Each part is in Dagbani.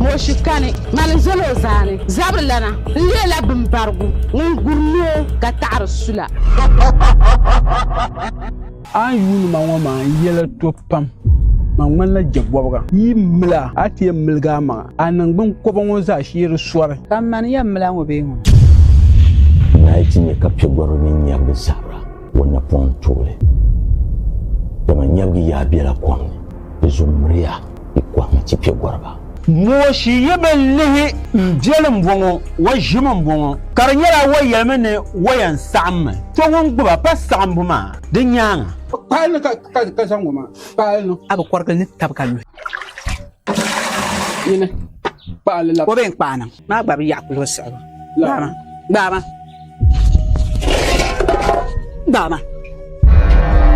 Mooshi kani mali n zali o zaani zabirilana n leela bimbarigu ŋun guri ni o ka taɣiri sula. A ni yuuni ma ŋɔ maa n yɛla to pam. Ma ŋmanila jɛbɔbiga. Yi mil a, a ti yɛn miligi a maŋa. A niŋgbuŋ kɔba ŋɔ zaa shiri sɔri. Ka m mani yɛn mil a ŋɔ bee ŋɔ? Naai ti nya ka piɛgɔriba mini nyɛvili sabira. O napɔŋ tuuli, dama nyɛbigi yaa bela kom ni, di zuɣu miriya yi kɔhima ti kpe gɔriba. Mooshi yi bi lihi m beli m-bɔŋɔ, wa ʒimi m-bɔŋɔ, ka di nyɛla wa yɛlimi ni wa yɛn saɣim mi tɔ ŋun gbiba pa saɣimbu maa di nyaaŋa. Kpaali ni ka zaŋ ŋɔ maa, kpaali ni. A bi kɔrigili ni tab ka luhi. Yini kpaali la. O bee n-kpaai niŋ. Maa gba bi yaɣi kuli o siɣibu. Gbaama. Baama.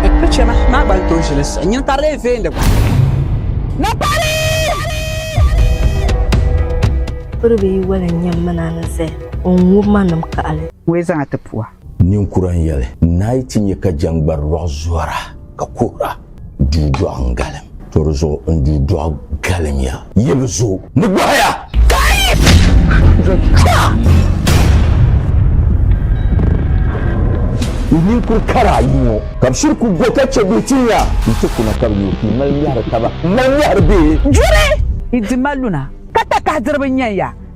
Ekpe chema maa gba n-tooi ʒili sa. Nyin ka lee veeni gba. Na pari! Piribi yi wali n-nyɛ m mini a ni zaya, o n-ŋub ma nim kaɣili. Ŋun yi zaŋ a ti pua. Ninkura n-yɛli, Naai ti nya ka jɛŋgbari lɔɣu zɔra ka kuhira. duu dɔɣu n-galim. To di zuɣu n duu dɔɣu galim ya. Yi bi zo ni bɔhi ya. Yi ninkur kara ayi ŋɔ. Ka bi shiri ku go ka che bee tin ya. Yi ti kuna ka bi yo pii mali mɛhiri taba. N mali mɛhiri bee? Juri! Yi di ma luna ka takahi diriba n-yan ya.